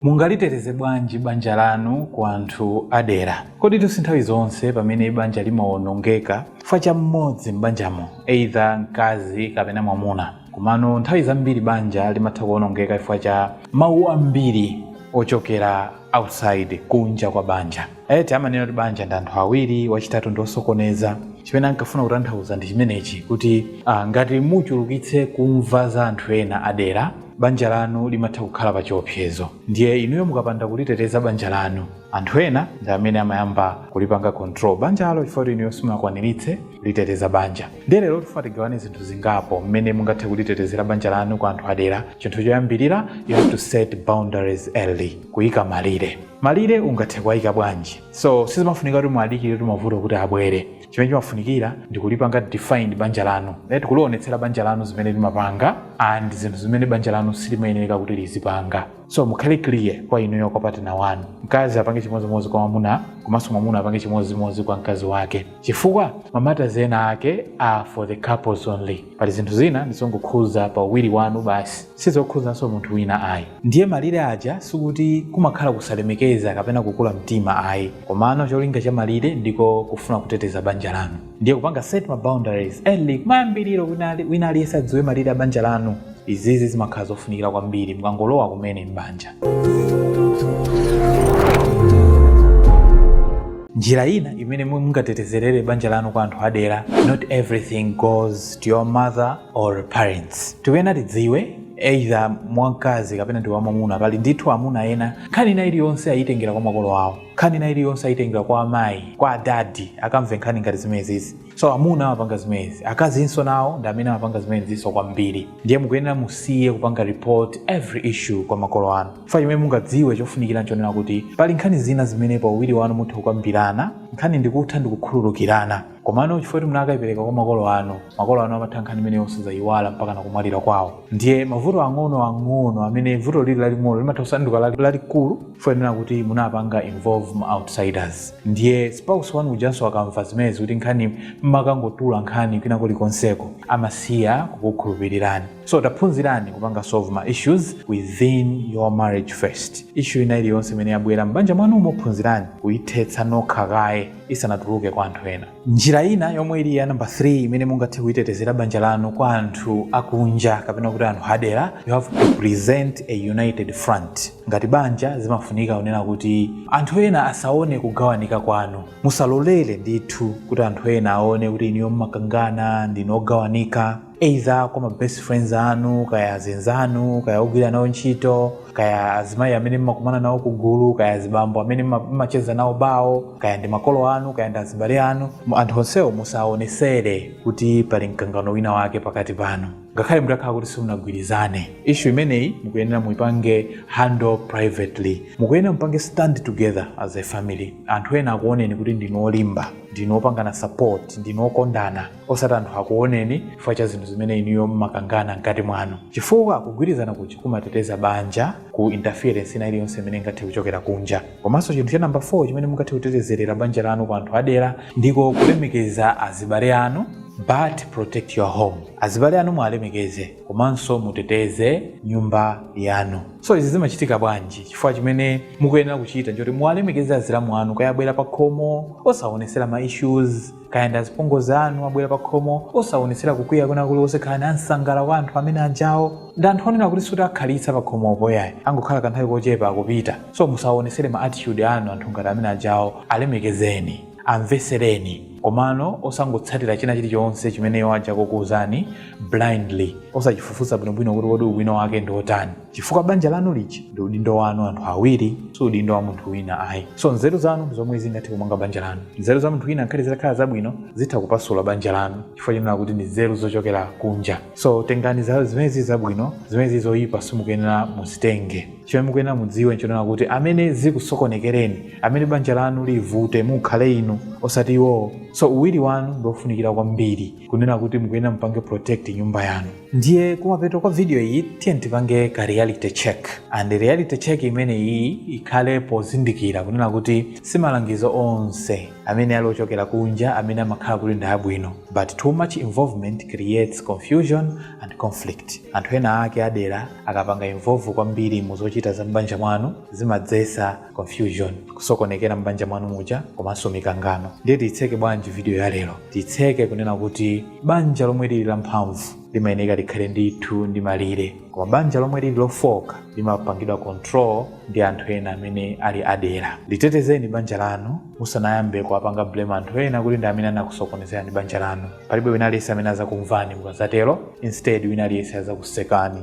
Mungaliteteze bwanji banja lanu ku anthu adera? Koditu sinthawi zonse pamene banja limawonongeka chifukwa cha mmodzi m'banjamo, either mkazi kapena mwamuna. Komano nthawi zambiri banja limatha kuwonongeka chifukwa cha mawu ambiri ochokera outside, kunja kwa banja. Amanena kuti banja ndi anthu awiri, wachitatu ndi osokoneza. Chimene ankafuna kutanthauza ndi chimenechi kuti ngati muchulukitse kumva za anthu ena adera, banja lanu limatha kukhala pa chiopsezo. Ndiye inuyo mukapanda kuliteteza banja lanu, anthu ena ndi amene amayamba kulipanga control banjalo chifukwa kuti inuyo simunakwaniritse kuliteteza banja. Ndiye lero tifuna tigawane zinthu zingapo mmene mungathe kulitetezera banja lanu kwa anthu adera. Chinthu choyambirira, you have to set boundaries early, kuyika malire. Malire ungathe kuwaika bwanji? So sizimafunika kuti muwadikire kuti mavuto kuti abwere. Chimene chimafunikira ndi kulipanga define banja lanu, right? Kulionetsera banja lanu zimene limapanga and zinthu zimene banja lanu silimayenereka kuti lizipanga. So mukhale clear kwa inuyo kwa partner wanu. Mkazi apange chimodzimodzi kwa mwamuna komanso mwamuna apange chimodzimodzi kwa mkazi wake. chifukwa ma matters ena ake are for the couples only pali zinthu zina ndizongokhuza pa uwiri wanu basi sizokhuzanso munthu wina ayi ndiye malire aja sikuti kumakhala kusalemekeza kapena kukula mtima ayi komano cholinga cha malire ndiko kufuna kuteteza banja lanu ndiye kupanga set ma boundaries early kumayambiriro wina aliyense adziwe malire a banja lanu Izizi zimakhala zofunikira kwambiri mukangolowa kumene m'banja. Njira ina imene mungatetezerere banja lanu kwa anthu adera, not everything goes to your mother or parents. Tikuyenera tidziwe either mwamkazi kapena ndi wamwamuna pali ndithu amuna ena nkhani ina iliyonse ayitengera kwa makolo awo nkhani ina iliyonse ayitengera kwa amayi kwa adadi akamve nkhani ngati zimenezi so amuna amapanga zimenezi akazinso nawo ndi amene amapanga zimenezinso kwambiri ndiye mukuyenera musiye kupanga report every issue kwa makolo anu chifukwa chimene mungadziwe chofunikira nchonena kuti pali nkhani zina zimene pa uwiri wanu mutha kukambirana nkhani ndikutha ndikukhululukirana komano chifukwa kuti munakayipereka kwa makolo anu makolo anu amatha nkhani imeneyo osazayiwala mpaka nakumwalira kwawo ndiye mavuto ang'ono ang'ono amene vuto lili laling'ono limatha kusanduka lalikulu chifukwa chonena kuti munapanga involve ma outsiders ndiye spouse wanu ujanso akamva zimenezi kuti nkhani mmakangotula nkhani kwina kulikonseko amasiya kukukhulupirirani so taphunzirani kupanga solve ma issues within your marriage first issue ina iliyonse imene yabwera m'banja mwanu muphunzirani kuyithetsa nokha kaye isanatuluke kwa anthu ena njira ina yomwe ili ya namba 3 imene mungathe kulitetezera banja lanu kwa anthu akunja kapena kuti anthu adera you have to present a united front ngati banja zimafunika kunena kuti anthu ena asaone kugawanika kwanu musalolere ndithu kuti anthu ena aone kuti inuyo mmakangana ndinu ogawanika either kwa ma best friends anu kaya azinzanu kaya ogwira nawo ntchito kaya azimayi amene mmakumana nawo kugulu kaya azibambo amene mma- mmacheza nawo bawo kaya ndi makolo anu kaya ndi azibale anu anthu onsewo musaonesere kuti pali mkangano wina wake pakati panu ngakhale mutakhala kuti simunagwirizane issue imeneyi mukuyenera muipange handle privately mukuyenera mupange stand together as a family anthu ena akuoneni kuti ndinu olimba ndinu opangana support ndinu okondana osati anthu akuoneni chifukwa cha zinthu zimene inuyo mmakangana mkati mwanu chifukwa kugwirizana kuja kumateteza banja ku interference ina iliyonse imene ingathe kuchokera kunja komanso chinthu cha namba 4 chimene mungathe kutetezerera banja lanu kwa anthu adera ndiko kulemekeza azibale anu but protect your home azibale anu muwalemekeze komanso muteteze nyumba yanu so izi zimachitika bwanji chifukwa chimene mukuyenera kuchita nchoti muwalemekeze azilamu anu kaya abwera pa khomo osaonesera ma issues kaya ndi azipongozi anu abwera pa khomo osawonetsera kukwiya kwina kuliwonse khalani ansangala kwa anthu amene anjawo ndi anthu onena kuti sikuti akhalitsa pa khomopo ayi angokhala kanthawi kochepa akupita so musawonetsere ma attitude anu anthu ngati amene anjawo alemekezeni amvesereni komano osangotsatira china chilichonse chimene iwo aja akukuwuzani blindly osachifufuza bwinobwino kuti kodi ubwino wake ndi wotani chifukwa banja lanu lija ndi udindo wanu anthu awiri si udindo wa munthu wina ayi so nzeru zanu ndi zomwe zingathe kumanga banja lanu nzeru za munthu wina ngakhale zitakhala zabwino zitha kupasula banja lanu chifukwa chonena kuti ndi nzeru zochokera kunja so tengani zimene zili zabwino zimene zili zoyipa simukuyenera muzitenge chimene mukuyenera mudziwe nchonena kuti amene zikusokonekereni amene banja lanu livute mukhale inu osati iwowo so uwiri wanu ndiofunikira kwambiri kunena kuti mukuyenera mupange protect nyumba yanu ndiye kumapeto kwa video iyi tiyeni tipange ka reality check and reality check imene iyi ikhale pozindikira kunena kuti si malangizo onse amene ali ochokera kunja amene amakhala kuti ndi abwino but too much involvement creates confusion and conflict anthu ena ake adera akapanga involve kwambiri mu zochita za m'banja mwanu zimadzesa confusion kusokonekera m'banja mwanu muja komanso mikangano ndiye tiyitseke bwanji video ya lero tiyitseke kunena kuti banja lomwe lili lamphamvu limayeneka likhale ndithu ndi malire koma banja lomwe lili lofoka limapangidwa control ndi anthu ena amene ali adera litetezeni banja lanu musanayambe kuwapanga blame anthu ena kuti ndi amene anakusokonezerani banja lanu palibe wina aliyense amene azakumvani mukazatero instead wina aliyense azakusekani